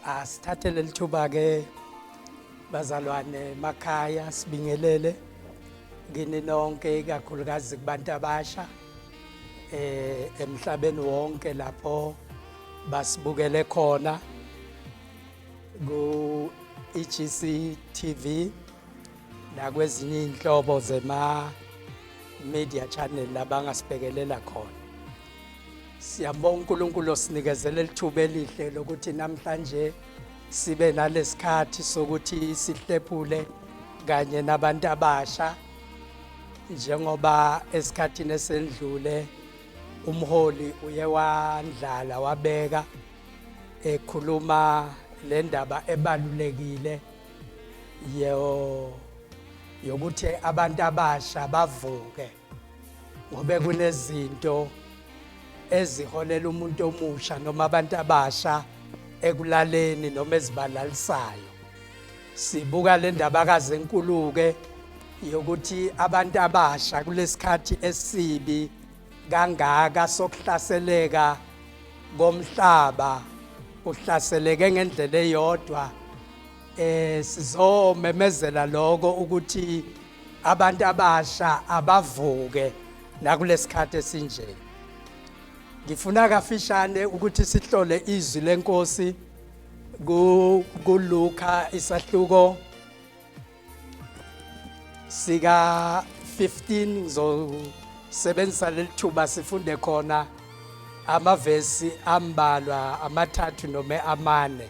Asithathe leli thuba ke bazalwane emakhaya sibingelele ngini nonke ikakhulukazi kubantu abasha eh emhlabeni wonke lapho basibukele khona ku EGC TV nakwezinye inhlobo zema media channel labangasibhekelela khona Siyabonga uNkulunkulu osinikezele lithuba elihle lokuthi namhlanje sibe nalesikhathi sokuthi sihlephule kanye nabantu abasha njengoba esikhathini esendlule umholi uye wandlala wabeka ekhuluma le ndaba ebalulekile yokuthi abantu abasha bavuke ngobe kunezinto eziholela umuntu omusha noma abantu abasha ekulaleni noma ezibalalisayo sibuka le ndabakazi enkuluke yokuthi abantu abasha kulesikhathi esibi kangaka sokuhlaseleka komhlaba uhlaseleke ngendlela eyodwa eh sizomemezela lokho ukuthi abantu abasha abavuke nakulesikhathi esinje ngifuna kafishane ukuthi sihlole izwi lenkosi ku kuluka isahluko sika 15 ngizosebenzisa lelithuba sifunde khona amavesi ambalwa amathathu noma amane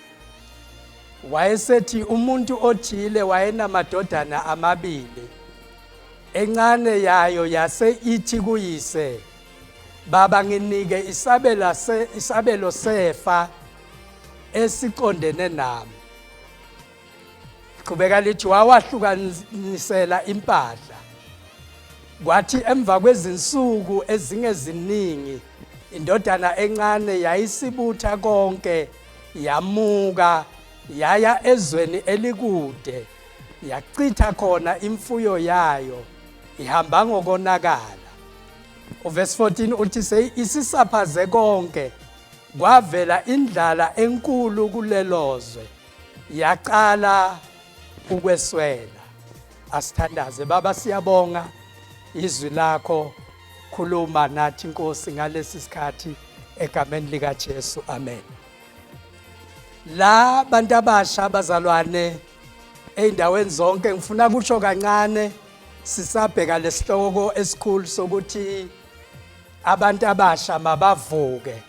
wayesethi umuntu othile wayenamadodana amabili encane yayo yase ithi kuyise baba nginike isabela se isabelo sefa esiqondene nami qhubeka lithi wawahlukanisela impahla kwathi emva kwezinsuku ezingeziningi indodana encane yayisibutha konke yamuka yaya ezweni elikude yachitha khona imfuyo yayo ihamba ngokonakala uvesi 14 uthi seyisisaphaze konke kwavela indlala enkulu kulelozwe yaqala ukweswela asithandaze baba siyabonga izwi lakho khuluma nathi inkosi ngalesi sikhathi egameni lika Jesu amen la bantu abasha abazalwane eindaweni zonke ngifuna kusho kancane sisabheka lesihloko esikhulu sokuthi abantu abasha mabavuke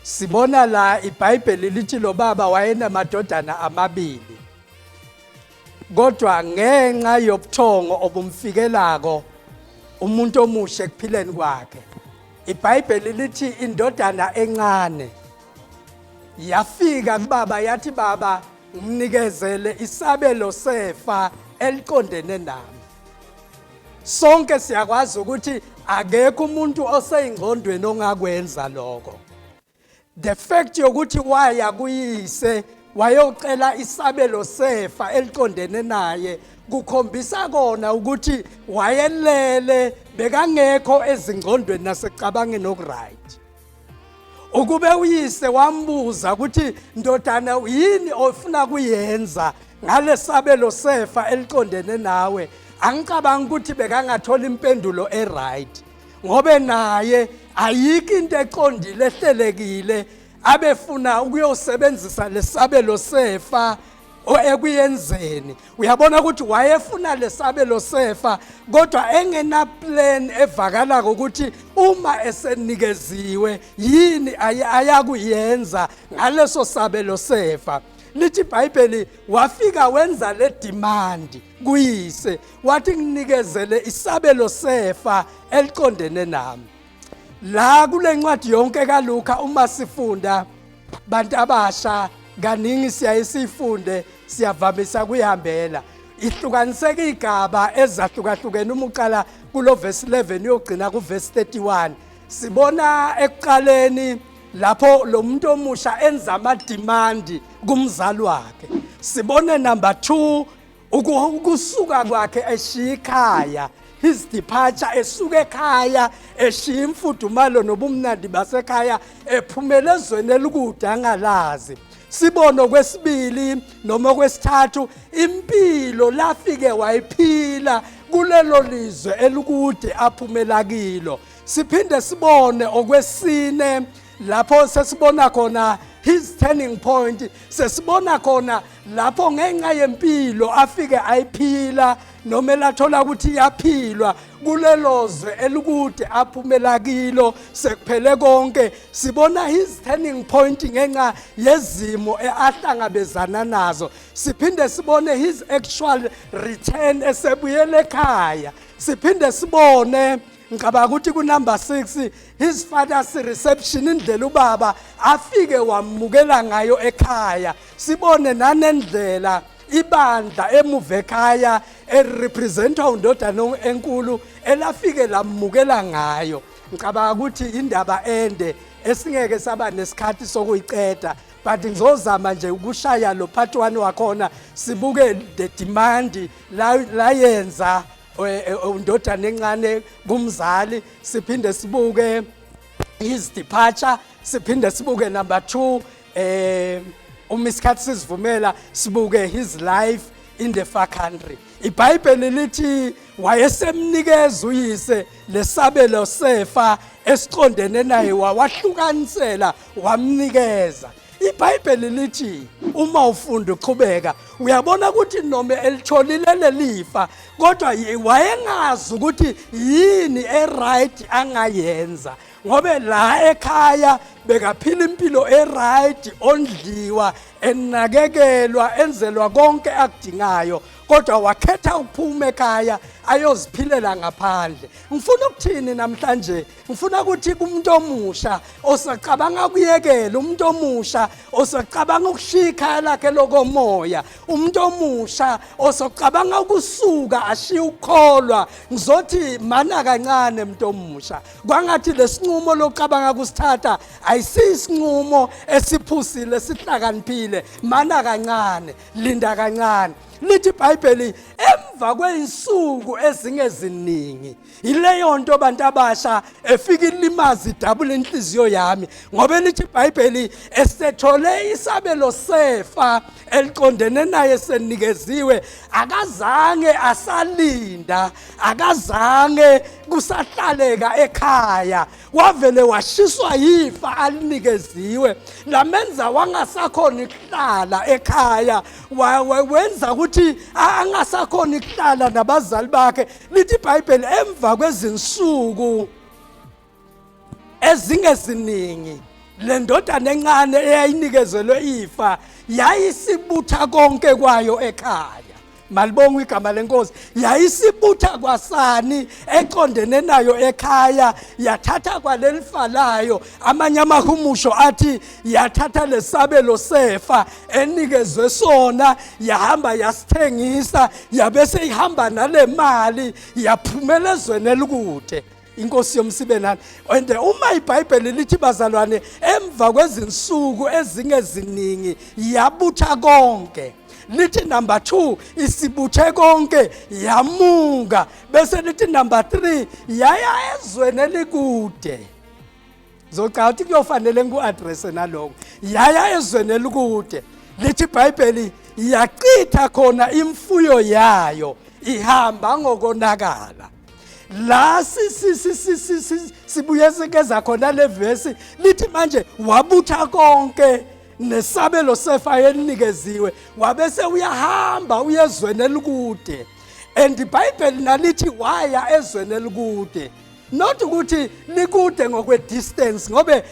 sibona la iBhayibheli lithi lo baba wayenamadodana amabili kodwa ngenxa yobuthongo obumfikelako umuntu omusha ekuphileni kwakhe ibhayibheli lithi indodana encane yafika kubaba yathi baba ngimnikezele isabelo sefa eliqondene nami sonke siyakwazi ukuthi akekho umuntu oseyingqondweni ongakwenza lokho the fact yokuthi waya kuyise wayocela isabelo sefa eliqondene naye kukhombisa kona ukuthi wayelele bekangekho ezingqondweni nasecabangeni okuright ukube uyise wambuza ukuthi ndodana yini ofuna kuyenza ngalesabelo sefa eliqondene nawe angicabangi ukuthi bekangathola impendulo eright ngobe naye ayikho into eqondile ehlelekile abefuna ukuyosebenzisa lesabelo sefa ekuyenzeni uyabona ukuthi wayefuna lesabelo sefa kodwa engena plan evakala ukuthi uma esenikeziwe yini ayakuyenza ngaleso sabelo sefa lithi iBhayibheli wafika wenza le demand kuyise wathi nginikezele isabelo sefa eliqondene nami la kule ncwadi yonke kaLuka uma sifunda bantu abasha kaningi siyaye sifunde siyavamisa kuyihambela ihlukaniseka igaba ezahlukahlukene uma uqala kulo verse 11 uyogcina ku verse 31 sibona ekuqaleni lapho lo muntu omusha enza ama demand kumzali wakhe sibone number 2 ukusuka kwakhe eshiya ikhaya his departure esuka ekhaya eshiya imfudumalo nobumnandi basekhaya ephumele ezweni elikude angalazi sibone okwesibili noma okwesithathu impilo lafike wayiphila kulelo lizwe elikude aphumela kilo siphinde sibone okwesine lapho sesibona khona his turning point sesibona khona lapho ngenxa yempilo afike ayiphila noma elathola ukuthi iyaphilwa kulelo zwe elikude aphumela kilo sekuphele konke sibona his turning point ngenxa yezimo ahlangabezana nazo siphinde sibone his actual return esebuyele ekhaya siphinde sibone ngicabanga ukuthi kunumber 6 his father's reception indlela ubaba afike wamukela ngayo ekhaya sibone nanendlela ibandla emuva ekhaya elirepresentwa undodana enkulu elafike lamukela ngayo ngicabanga ukuthi indaba ende esingeke saba nesikhathi sokuyiqeda but ngizozama nje ukushaya lo part 1 wakhona sibuke the demand layenza la undodana encane kumzali siphinde sibuke his departure siphinde sibuke number 2 eh uma isikhathi sizivumela sibuke his life in the far country ibhayibheli lithi wayesemnikeza uyise lesabelo sefa esiqondene naye wawahlukanisela wamnikeza ibhayibheli lithi uma ufunda uqhubeka uyabona ukuthi noma elitholile lelifa kodwa wayengazi ukuthi yini eright angayenza ngobe la ekhaya bekaphila impilo eright ondliwa enakekelwa enzelwa konke akudingayo kodwa wakhetha ukuphuma ekhaya ayoziphilela ngaphandle ngifuna ukuthini namhlanje ngifuna ukuthi kumuntu omusha osacabanga ukuyekela umuntu omusha osacabanga ukushiya ikhaya lakhe lokomoya umuntu omusha osocabanga ukusuka ashiye ukukholwa ngizothi mana kancane umuntu omusha kwangathi lesinqumo lokucabanga kusithatha ayisisinqumo esiphusile sihlakaniphile mana kancane linda kancane lithi ibhayibheli emva kweyinsuku ezingeziningi yileyo nto bantu abasha efika ilimazi idabula inhliziyo yami ngoba elithi ibhayibheli esethole isabelo sefa eliqondene naye senikeziwe akazange asalinda akazange kusahlaleka ekhaya wavele washiswa yifa alinikeziwe lamenza wangasakhona ukuhlala ekhaya wenza ukuthi angasakhona ukuhlala nabazali bakhe lithi ibhayibheli emva kwezinsuku ezingeziningi le ndodana encane eyayinikezelwe ifa yayisibutha konke kwayo ekhaya malibonga igama lenkosi yayisibutha kwasani eqondene nayo ekhaya yathatha kwalelifa layo amanye amahumusho athi yathatha lesabelo sefa enikezwe sona yahamba yasithengisa yabe seyihamba nale mali yaphumela ezweni elikude inkosi yomsibenani and uma ibhayibheli lithi bazalwane emva kwezinsuku ezingeziningi yabutha konke lithi number 2 isibuthe konke yamunga bese lithi number 3 yaya ezweni elikude Ngizocabanga ukuthi kuyofanele ngiku-addresse naloko. Yaya ezweni elikude. Lithi iBhayibheli yachitha khona imfuyo yayo ihamba ngokonakala. La sibuye sikeza khona le verse lithi manje wabutha konke nesabelo sefa elinikeziwe wabese uyahamba uyezweni elikude and ibhayibheli nalithi waya ezweni elikude not ukuthi nikude ngokwe distance ngobe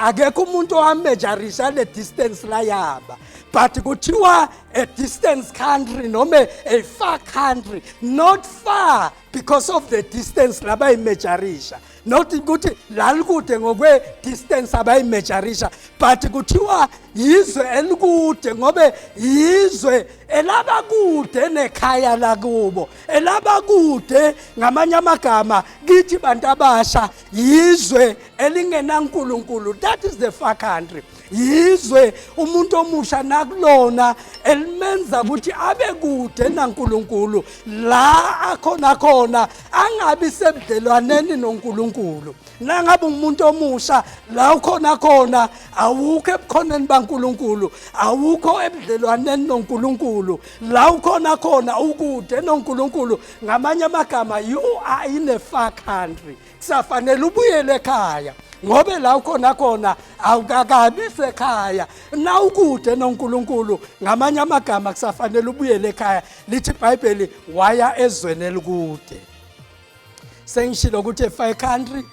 akekho umuntu owamejarisha le distance la yaba but kuthiwa a distance country noma a far country not far because of the distance labayimejarisha not ukuthi lalikude ngokwe distance abayimejarisha but kuthiwa yizwe elikude ngobe yizwe elabakude nekhaya lakubo elabakude ngamanye amagama kithi bantu abasha yizwe elingenankulunkulu that is the far country yizwe umuntu omusha nakulona elimenza ukuthi abe kude naNkuluNkulu la akhona khona angabi sebudlelwaneni noNkuluNkulu nangabe umuntu omusha la ukhona khona awukho ebukhoneni baNkuluNkulu awukho ebudlelwaneni noNkuluNkulu la ukhona khona ukude noNkulunkulu ngamanye amagama you are in a far country kusafanele ubuyele ekhaya ngobe la ukhona khona awukakabi sekhaya na ukude noNkulunkulu ngamanye amagama kusafanele ubuyele ekhaya lithi iBhayibheli waya ezweni elikude sengishilo ukuthi a far country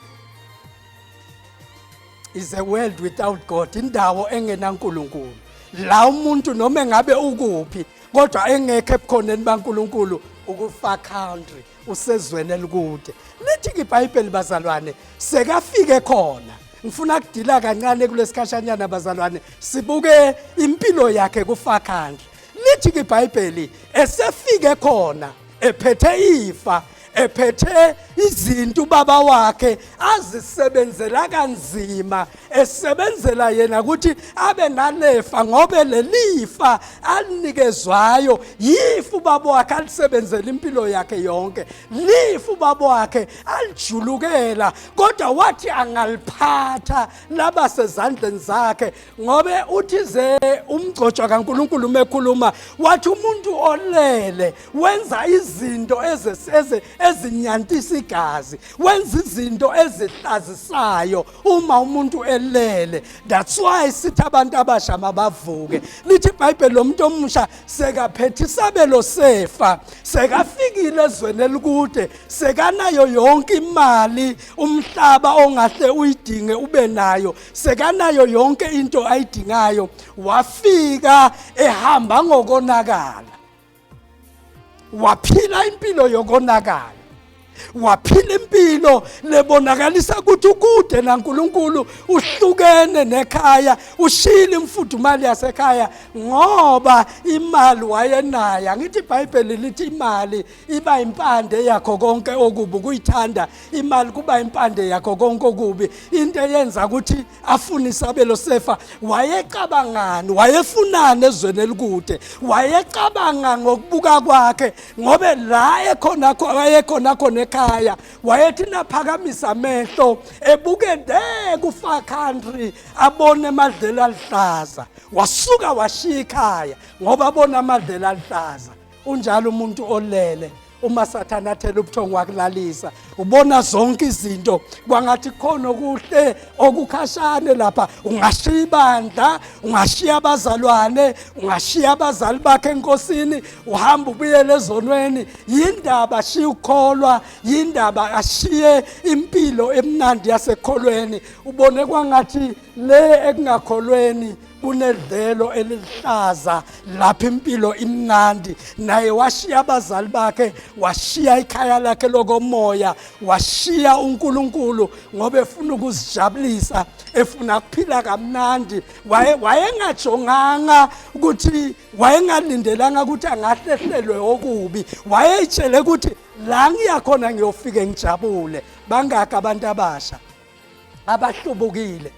is a world without God indawo engenaNkulunkulu la umuntu noma engabe ukuphi kodwa engekho ebukhoneni baNkulunkulu ukufa country usezweni elikude lithi ngiBhayibheli bazalwane sekafike khona ngifuna kudila kancane kulesikhashanyana bazalwane sibuke impilo yakhe kufa country lithi ngiBhayibheli esefike khona ephethe ifa ephethe izinto ubaba wakhe azisebenzela kanzima esebenzela yena ukuthi abe nalefa ngobe lelifa alinikezwayo yifu ubaba wakhe alisebenzela impilo yakhe yonke lifu ubaba wakhe alijulukela kodwa wathi angaliphatha laba sezandleni zakhe ngobe uthi ze umgcotshwa kaNkuluNkulu uma ekhuluma wathi umuntu olele wenza izinto ezinyantisa igazi wenza izinto ezihlazisayo uma umuntu elele that's why sithi abantu abasha mabavuke lithi ibhayibheli lomuntu omusha sekaphethe isabelo sefa sekafikile ezweni elikude sekanayo yonke imali umhlaba ongahle uyidinge ube nayo sekanayo yonke into ayidingayo wafika ehamba ngokonakala waphila impilo yokonakala waphila impilo lebonakalisa ukuthi ukude naNkuluNkulu uhlukene nekhaya ushile imfudumali yasekhaya ngoba imali wayenayo angithi iBhayibheli lithi imali iba impande yakho konke okubi ukuyithanda imali kuba impande yakho konke okubi into eyenza ukuthi afune isabelo sefa wayecabangani wayefunani ezweni elikude wayecabanga ngokubuka kwakhe ngobe la ekhona kho wayekhona khona ekhaya wayethi naphakamisa amehlo ebuke de kufa country abone amadlela aluhlaza wasuka washiya ikhaya ngoba abona amadlela aluhlaza unjalo umuntu olele uma sathane athela ubuthongo wakulalisa ubona zonke izinto kwangathi khona okuhle okukhashane lapha ungashiya ibandla ungashiya abazalwane ungashiya abazali bakhe enkosini uhamba ubuyele ezonweni yindaba ashiye ukukholwa yindaba ashiye impilo emnandi yasekholweni ubone kwangathi le ekungakholweni kunedlelo eliluhlaza lapha impilo imnandi naye washiya abazali bakhe washiya ikhaya lakhe lokomoya washiya uNkulunkulu ngoba efuna ukuzijabulisa efuna kuphila kamnandi wayengajonganga ukuthi wayengalindelanga ukuthi angahlehlelwe okubi wayeyitshele ukuthi la ngiyakhona ngiyofike ngijabule bangaka abantu abasha abahlubukile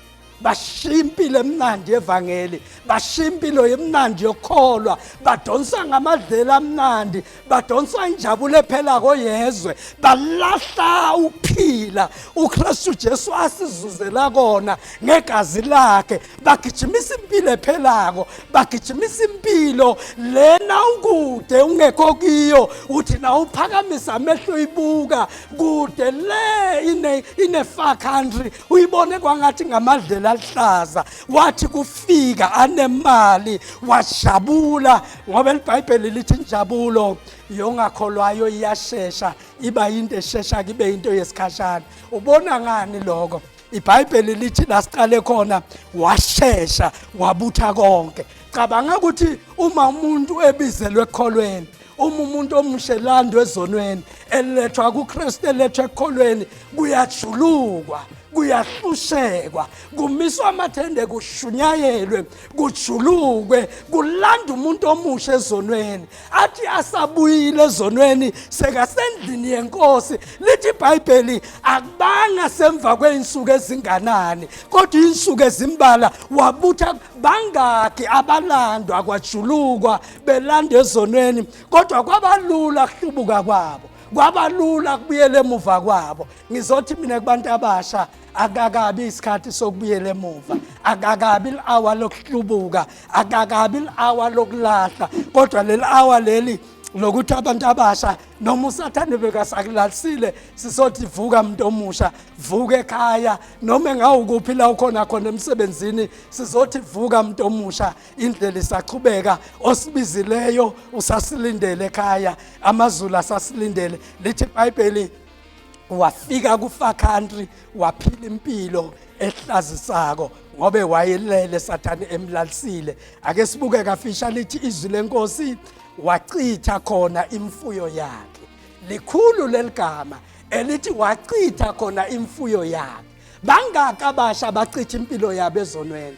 bashiya impilo emnandi yevangeli bashiya impilo yemnandi yokukholwa badonsa ngamadlela amnandi badonsa injabulo ephela koyezwe balahla ukuphila uKristu Jesu asizuzela kona ngegazi lakhe bagijimisa impilo ephelako bagijimisa impilo lena ukude ungekho kiyo uthi na uphakamisa amehlo uyibuka kude le ine ine far country uyibone kwangathi ngamadlela aluhlaza wathi kufika anemali wajabula ngoba libhayibheli lithi injabulo yongakholwayo iyashesha iba into eshesha kibe into yesikhashana ubona ngani lokho ibhayibheli lithi la siqale khona washesha wabutha konke cabanga ukuthi uma umuntu ebizelwe ekholweni uma umuntu omusha elandwa ezonweni elethwa kuKristu elethwa ekholweni kuyajulukwa kuyahlushekwa kumiswa amathende kushunyayelwe kujulukwe kulanda umuntu omusha ezonweni athi asabuyile ezonweni sekasendlini yenkosi lithi ibhayibheli akubanga semva kwey'nsuku ezinganani kodwa iy'nsuku ezimbala wabutha bangaki abalandwa kwajulukwa belanda ezonweni kodwa kwabalula kuhlubuka kwabo kwabalula kubuyela emuva kwabo ngizothi mina kubantu abasha akakabi isikhathi sokubuyela emuva akakabi li-awa lokuhlubuka akakabi li-awa lokulahla kodwa leli awa leli lokuthi abantu abasha noma usathane bekasakulalisile sisothi vuka muntu omusha vuka ekhaya noma engawukuphi la ukhona khona emsebenzini sizothi vuka muntu omusha indlela isaqhubeka osibizileyo usasilindele ekhaya amazulu asasilindele lithi ibhayibheli wafika kufa country waphila impilo ehlazisako ngobe wayelele sathane emlalisile ake sibuke kafisha lithi izwi lenkosi wachitha khona imfuyo yakhe likhulu leligama elithi wachitha khona imfuyo yakhe bangaka basha bachitha impilo yabo ezonweni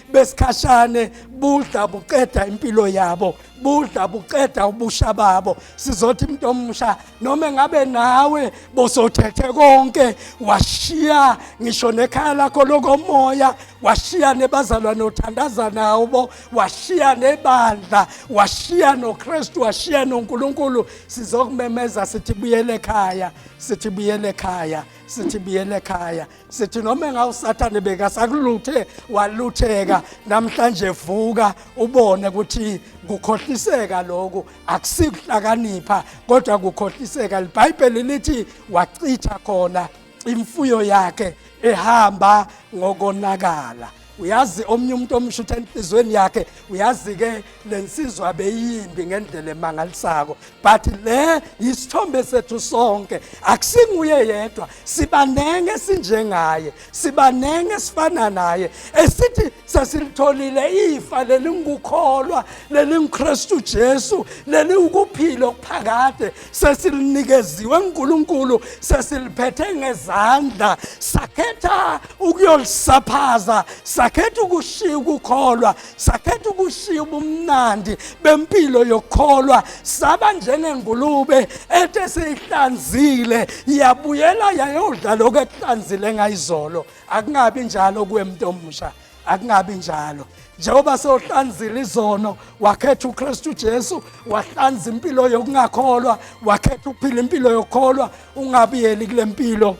besikhashane budla buqeda impilo yabo budla buqeda ubusha babo sizothi umuntu omusha noma engabe nawe bosothethe konke washiya ngisho nekhaya lakho lokomoya washiya nebazalwane othandaza nawo washiya nebandla washiya noKristu washiya noNkulunkulu sizokumemeza sithi buyele ekhaya sithi buyele ekhaya sithi buyele ekhaya sithi noma engawusathane bekasakuluthe walutheka namhlanje vuka ubone ukuthi kukhohliseka lokhu akusikuhlakanipha kodwa kukhohliseka libhayibheli lithi wachitha khona imfuyo yakhe ehamba ngokonakala uyazi omunye umuntu omusha ukuthi enhliziyweni yakhe uyazi-ke le nsizwa beyimbi ngendlela emangalisako but le yisithombe sethu sonke akusinguye yedwa sibanenge sinjengaye sibanenge sifana naye esithi sesilitholile ifa lelingukholwa lelingukristu jesu leliwukuphila okuphakade sesilunikeziwe uNkulunkulu sesiliphethe ngezandla sakhetha ukuyolisaphaza sakhetha ukushiya ukukholwa sakhetha ukushiya ubumnandi bempilo yokukholwa saba njengengulube ethe seyihlanzile yabuyela yayodla lokho ekuhlanzile ngayizolo akungabi njalo kuwe muntu omusha akungabi njalo njengoba sewuhlanzile izono wakhetha uKristu Jesu wahlanza impilo yokungakholwa wakhetha ukuphila impilo yokukholwa ungabiyeli kule mpilo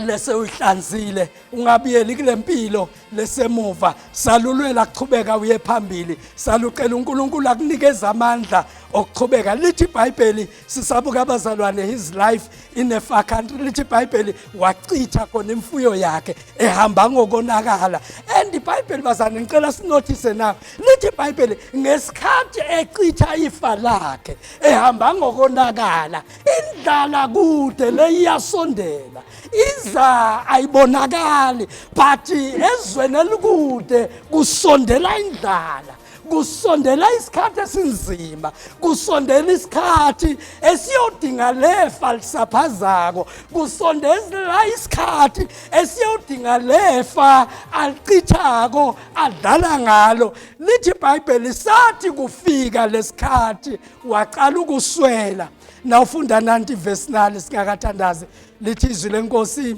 lese uyihlanzile ungabiyeli kule mpilo lesemuva salulwela kuchubeka uye phambili salucela uNkulunkulu akunikeza amandla okuchubeka lithi iBhayibheli sisabuka abazalwane his life in a far country lithi ibhayibheli wachitha khona imfuyo yakhe ehamba ngokonakala and ibhayibheli bazane ngicela sinothise na lithi ibhayibheli ngesikhathi echitha ifa lakhe ehamba ngokonakala indlala kude leyiyasondela iza ayibonakali but ezweni elikude kusondela indlala kusondela isikhathi esinzima kusondela isikhathi esiyodinga lefa lisaphazako kusondela isikhathi esiyodinga lefa alichithako adlala ngalo lithi ibhayibheli sathi kufika lesikhathi waqala ukuswela nawufunda nanti ivesi nali singakathandazi lithi izwi lenkosi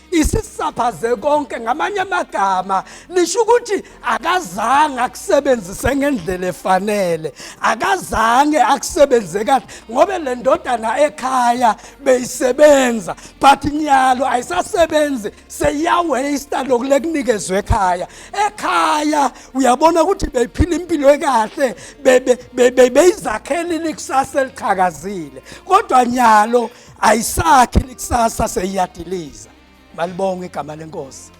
isisaphaze konke ngamanye amagama lisho ukuthi akazange akusebenzise ngendlela efanele akazange akusebenze kahle ngobe le ndodana ekhaya beyisebenza but nyalo ayisasebenzi seyiyaweyista loku lekunikezwe ekhaya ekhaya uyabona ukuthi beyiphila impilo ekahle beyizakhelile ikusasa eliqhakazile kodwa nyalo be, be, be, ayisakhi likusasa seyiyadiliza malibonga igama lenkosi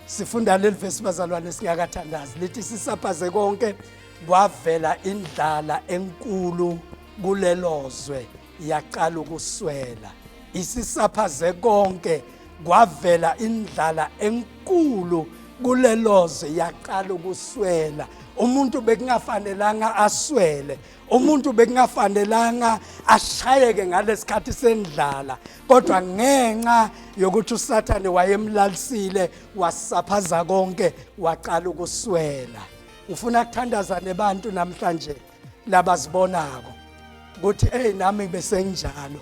sifunda leli vesi bazalwane singakathandazi lithi sisapaze konke kwavela indlala enkulu kulelozwe yaqala ukuswela isisaphaze konke kwavela indlala enkulu kulelozwe yaqala ukuswela umuntu bekungafanelanga aswele umuntu bekungafanelanga ashayeke ngalesikhathi sendlala kodwa ngenxa yokuthi usathane wayemlalisile wasaphaza konke waqala ukuswela ngifuna kuthandaza nebantu namhlanje labazibonako ukuthi hey nami besenginjalo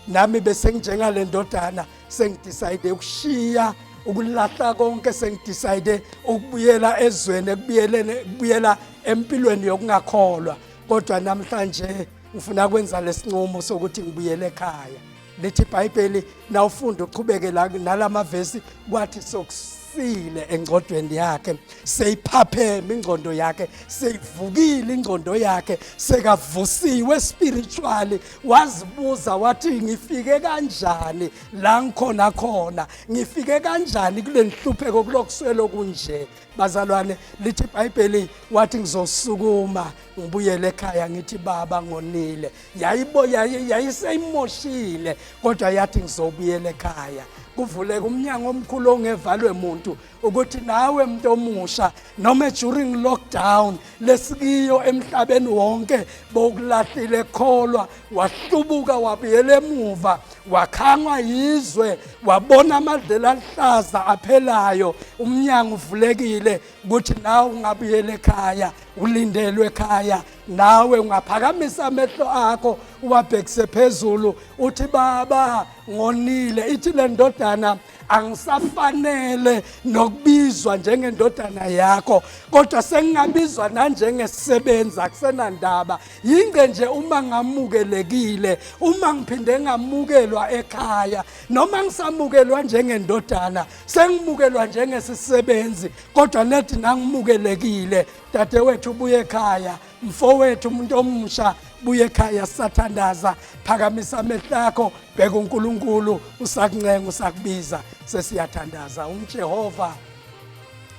nami bese nginjengale ndodana sengidecide ukushiya ukulahla konke sengidecide ukubuyela ezweni ekubuyelene kubuyela empilweni yokungakholwa kodwa namhlanje ngifuna kwenza lesinqumo sokuthi ngibuyele ekhaya lithi iBhayibheli nawufunda uqhubeke la nalamavesi kwathi sokusile engcodweni yakhe seyiphapheme ingcondo yakhe seyivukile ingcondo yakhe sekavusiwe spiritually wazibuza wathi ngifike kanjani la ngikhona khona ngifike kanjani kule nhlupheko kulokuswelo kunje bazalwane lithi ibhayibheli wathi ngizosukuma ngibuyele ekhaya ngithi baba ngonile yayibo yayiseyimoshile kodwa yathi ngizobuyela ekhaya kuvuleka umnyango omkhulu ongevalwe muntu ukuthi nawe muntu omusha noma during lockdown lesikiyo emhlabeni wonke bokulahlile kholwa wahlubuka wabuyela emuva wakhangwa yizwe wabona amadlela aluhlaza aphelayo umnyango uvulekile ukuthi nawe ungabuyela ekhaya ulindelwe ekhaya nawe ungaphakamisa amehlo akho uwabhekise phezulu uthi baba ngonile ithi le ndodana angisafanele nokubizwa njengendodana yakho kodwa sengingabizwa nanjengesebenzi akusenandaba yinge nje uma ngamukelekile uma ngiphinde ngamukelwa ekhaya noma ngisamukelwa njengendodana sengimukelwa njengesisebenzi kodwa nedi nangimukelekile dadewethu ubuye ekhaya mfowethu umuntu omusha buye ekhaya sathandaza phakamisa amehlo akho bheka uNkulunkulu usakuncenga usakubiza sesiyathandaza uJehova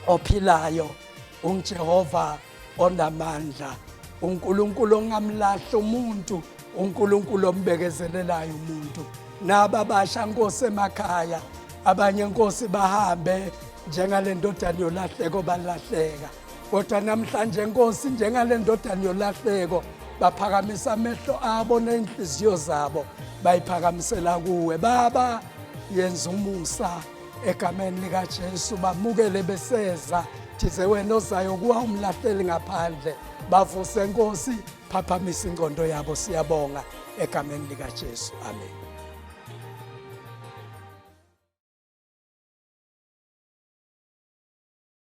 ophilayo uJehova onamandla uNkulunkulu ongamlahli umuntu uNkulunkulu ombekezelelayo umuntu naba basha nkosi emakhaya abanye nkosi bahambe njengalendodana yolahleko balahleka kodwa namhlanje nkosi njengale ndodana yolahleko baphakamisa amehlo abo ney'nhliziyo zabo bayiphakamisela kuwe baba yenza umusa egameni likajesu bamukele beseza thize wena ozayo kuwa umlahleli ngaphandle bavuse nkosi phaphamisa ingqondo yabo siyabonga egameni likajesu amen